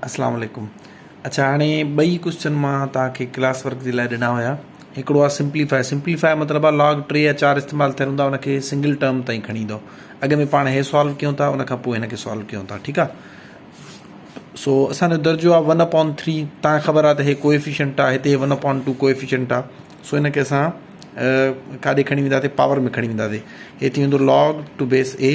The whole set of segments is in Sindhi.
السلام عليڪم اڇا هاڻي ٻئي ڪوشچن مان توهان کي ڪلاس ورڪ جي لاء ڏنا هيا هڪڙو آ سمپليفاء سمپليفاء مطلب آ لاگ 3 يا 4 استعمال ٿيل هوندا ان کي سنگل ٽرم تائين کڻي ايندو اڳ ۾ پاڻ هي سالو ڪيون ٿا ان کان پوء هن کي سالو ڪيون ٿا ٺيڪ آ سو اسان جو درجو آ 1 اپون 3 تا خبر آ ته هي ڪوئيفيشنٽ آ هتي 1 اپون 2 ڪوئيفيشنٽ آ سو ان کي اسان ڪاڏي کڻي وينداسي پاور ۾ کڻي وينداسي هي ٿي ويندو لاگ ٽو بيس اي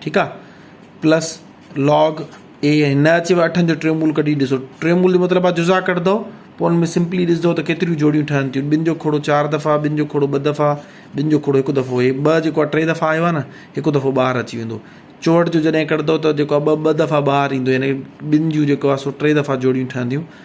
ٺيڪ آ پلس لاگ اي نه اچيو اٺن جو ٽيون مول ڪڍي ڏسو ٽيون مول جو مطلب آ جزا ڪڍندو پو ان ۾ سمپلي ڏسندو ته ڪيتريون جوڙيون ٺهن ٿيون ٻن جو کوڙو چار دفعا ٻن جو کوڙو ٻه دفعا ٻن جو کوڙو هڪ دفعو هي ٻه جيڪو ٽي دفعا آيو آ نه هڪ دفعو ٻاهر اچي ويندو چوهٺ جو جڏهن ڪڍندو ته جيڪو ٻه ٻه دفعا ٻاهر ايندو يعني ٻن جون جيڪو آ سو ٽي دفعا جوڙيون ٺهنديون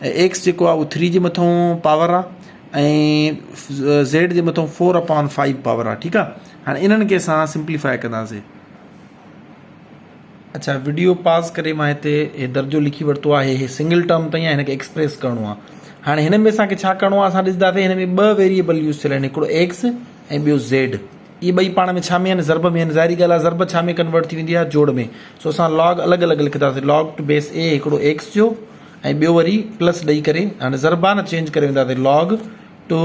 ايڪس جيڪو آ اهو ٿري جي مٿون پاور آ ۽ زيڊ جي مٿون فور اپان فائيو پاور آ ٺيڪ آ هاڻي انهن کي اسان سمپليفاء ڪنداسين اچھا وڊيو پاز ڪري مان هتي هي درجو لکي ورتو آهي هي سنگل ٽرم تائين آ هن کي ايڪسپريس ڪرڻو آ هاڻي هن ۾ اسان کي ڇا ڪرڻو آ اسان ڏسنداسين هن ۾ ٻه ويريبل يوز ٿيل آهن هڪڙو ايڪس ۽ ٻيو زيڊ اهي ٻئي پاڻ ۾ ڇا ۾ آهن ضرب ۾ آهن ظاهري ڳالهه آ ضرب ڇا ۾ ڪنورٽ ٿي ويندي آ جوڙ ۾ سو اسان لاگ الڳ الڳ لکنداسين لاگ ٽو بيس اي هڪڙو ايڪس جو ۽ ٻيو وري پلس ڏئي ڪري هاڻي ضربان چينج ڪري وينداسي log to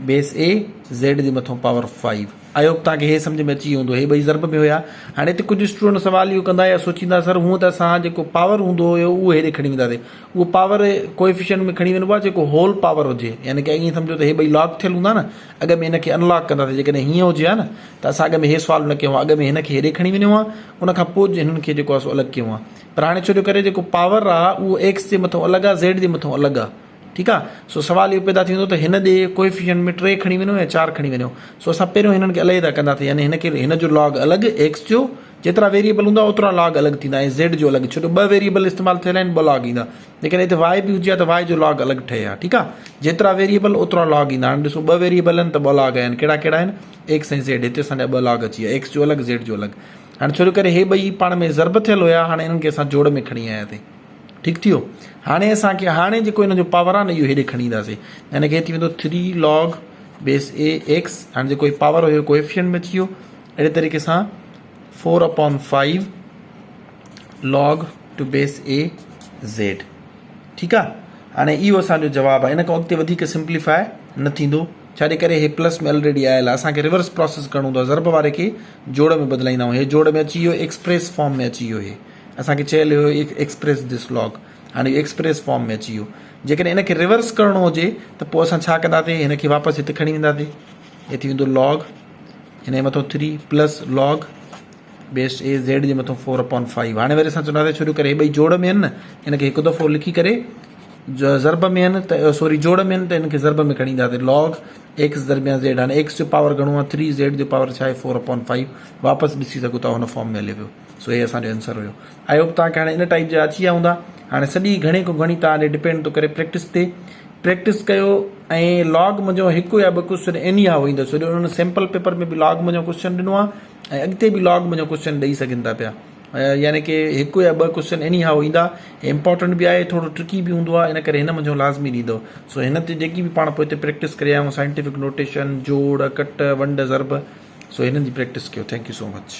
base a z جي مٿو پاور فائيو آئي هوپ تان کي هي سمجھ ۾ اچي ويو هوندو هي ٻئي ضرب ۾ هيا هاڻي هتي ڪجھ اسٽوڊنٽ سوال اهو ڪندا يا سوچيندا سر هون ته اسان جيڪو پاور هوندو هو اهو هيڏي کڻي وينداسي اهو پاور ڪوئفيشنٽ ۾ کڻي وينبو آهي جيڪو هول پاور هجي يعني ڪي ائين سمجھو ته هي ٻئي لاگ ٿيل هوندا نه اڳ ۾ هن کي انلاگ ڪنداسي جيڪڏهن هيئن هجي ها نه ته اسان اڳ ۾ هي سوال نه ڪيو هو اڳ ۾ هن کي هيڏي کڻي وينيو هو ان کان پوء هنن کي جيڪو آهي سو الڳ ڪيو هو پر هاڻي ڇو جو ڪري جيڪو پاور آ اهو ايڪس جي مٿو الڳ آ زيڊ جي مٿو الڳ آ ٺيڪ آ سو سوال اهو پيدا ٿيندو ته هن ڏي ڪوئيفيشنٽ ۾ ٽي کڻي وڃو يا چار کڻي وڃو سو اسان پهريون هنن کي عليحده ڪندا ٿي يعني هن کي هن جو لاگ الڳ ايڪس جو جيترا ويريبل هوندا اوترا لاگ الڳ ٿيندا ۽ زيڊ جو الڳ ڇو جو ٻه ويريبل استعمال ٿيل آهن ٻه لاگ ايندا جيڪڏهن هتي واء به هجي ها ته واء جو لاگ الڳ ٺهي ها ٺيڪ آ جيترا ويريبل اوترا لاگ ايندا هاڻي ڏسو ٻه ويريبل آهن ته ٻه لاگ آيا آهن ڪهڙا ڪهڙا آهن ايڪس ۽ زيڊ هتي اسان جا ٻه لاگ اچي ويا ايڪس جو الڳ زيڊ جو الڳ هاڻي ڇو جو ڪري هي ٻئي پاڻ ۾ ضرب ٿيل هيا هاڻي هنن کي اسان جوڙ ۾ کڻي آيا ٿي ٺيڪ ٿيو هاڻي اسان کي هاڻي جيڪو هن جو پاور آ نه اهو هيڏي کڻي اينداسي يعني ڪي ٿي ويندو 3 log بيس اي ايڪس هاڻي جيڪو هي پاور هيو ڪوئفيشنٽ ۾ ٿي ويو اهڙي طريقي سان 4 upon 5 log to base a z ٺيڪ آ هاڻي اهو اسان جو جواب آ ان کان اڳتي وڌيڪ سمپليفاء نه ٿيندو ڇاجي ڪري هي پلس ۾ الريڊي آيل آهي اسان کي ريورس پراسيس ڪرڻو هوندو آهي ضرب واري کي جوڙ ۾ بدلائيندا آهيون هي جوڙ ۾ اچي ويو ايڪسپريس فارم ۾ اچي ويو هي اسان کي چيل هيو ايڪسپريس ڌس لاگ هاڻي اهو ايڪسپريس فارم ۾ اچي ويو جيڪڏهن ان کي ريورس ڪرڻو هجي ته پوء اسان ڇا ڪنداسي هن کي واپس هت کڻي وينداسي هي ٿي ويندو لاگ هن جي مٿو 3 plus log base a z جي مٿو فور اپون فائيو هاڻي وري اسان چوندا ٿا شروع ڪري هي ٻئي جوڙ ۾ آهن نه ان کي هڪ دفعو لکي ڪري جو ضرب ۾ آهن ته سوري جوڙ ۾ آهن ته ان کي ضرب ۾ کڻي اينداسي لاگ ايڪس درميان زيڊ هاڻي ايڪس جو پاور گهڻو آهي ٿري زيڊ جو پاور ڇا آهي فور اپون فائيو واپس ڏسي سگهو ٿا هن فارم ۾ هلي ويو سو هي اسان جو آنسر هيو آئي هوپ توهان کي هاڻي ان ٽائپ جا اچي ويا هوندا هاڻي سڄي گهڻي کان گهڻي توهان ڏي ڊپينڊ ٿو ڪري پريڪٽس تي پريڪٽس ڪيو ۽ لاگ منجهو هڪ يا ٻه ڪوشچن اني هاء ايندو سو جو ان سيمپل پيپر ۾ به لاگ منجهو ڪوشچن ڏنو آهي ۽ اڳتي به لاگ منهنجا ڪوسچن ڏئي سگهن ٿا پيا يعني ڪي هڪ يا ٻه ڪوسچن ايني هائو ايندا هي امپورٽنٽ به آهي ٿورو ٽرڪي به هوندو آهي ان ڪري هن منهنجو لازمي ڏيندو سو هن تي جيڪي به پاڻ پوئتي پريڪٽس ڪري آيون سائنٽيفڪ نوٽيشن جوڙ ڪٽ ونڊ ضرب سو هنن جي پريڪٽس ڪيو ٿينڪ يو سو مچ